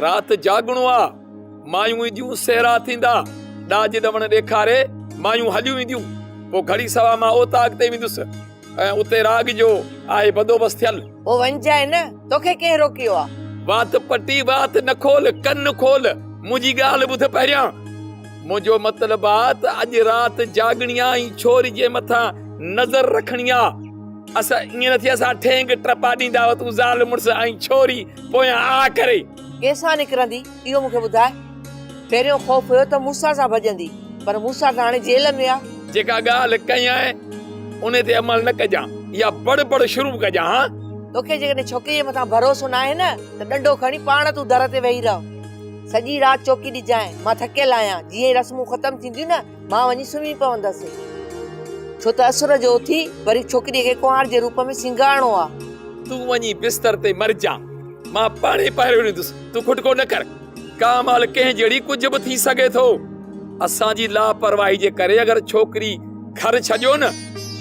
رات جاڳڻو آ، مايون اينديون سهرا ٿيندا، ڏاج ڏوڻ ڏيکاري مايون هليون وينديون، پوء گهڙي سوا مان اوطاق تي ويندس ۽ اتي راڳ جو آهي بندوبست ٿيل. پوء وڃجانء نه، توکي ڪنهن روڪيو آ؟ وات پٽي وات نه کول، ڪن کول، منهنجي ڳالهه ٻڌ پهريان. منهنجو مطلب آ ته اڄ رات جاڳڻي آ ۽ ڇوري جي مٿان نظر رکڻي آ. اسان ائين نه ٿي اسان ٺينگ ٽپا ڏيندا هئا، تون زال مڙس ۽ ڇوري. پويان آ ڪري. ڪيسان نڪرندي، اهو مون کي ٻڌاء. پهريون خوف هيو ته موسيٰ سان ڀڄندي، پر موسيٰ ته هاڻي جيل ۾ آ. جيڪا ڳالهه ڪيانء، انهي تي عمل نه ڪجان يا بڙ بڙ شروع ڪجان ها؟ توکي جيڪڏهن ڇوڪريء جي مٿان ڀروسو ناهي نه، ته ڏنڊو کڻي پاڻ تون در تي ويهي رهه. سڄي رات چوڪي ڏجانء، مان ٿڪيل آهيان. جيئن ئي رسمون ختم ٿينديون نه، مان وڃي سمهي پوندس، ڇو ته اسر جو اٿي وري ڇوڪريء کي ڪنوار جي روپ ۾ سينگارڻو آ. تون وڃي بستر تي مرجاء، مان پاڻهي پهرو ڏيندس، تون کٽڪو نه ڪر. ڪا مهل ڪنهن جهڙي ڪجهه به ٿي سگهي ٿو. اسان جي لاپرواهي جي ڪري اگر ڇوڪري گهر ڇڏيو نه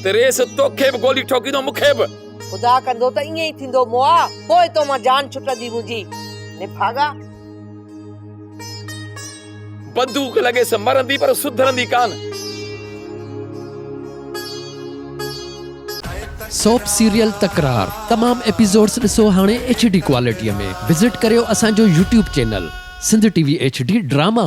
ته ريس توکي به گولي ٺوڪيندو، مون کي به. خدا ڪندو ته ائين ئي ٿيندو موآ، پوء تو مان جان ڇٽندي منهنجي نڀاڳا. بندوق لڳيس مرندي پر سڌرندي ڪانه. سوپ سيريل تڪرار تمام ايپيسوڊس ڏسو هاڻي ايڇ ڊي ڪوالٽي ۾ وزٽ ڪريو اسان جو YouTube channel Sindh T V H D drama.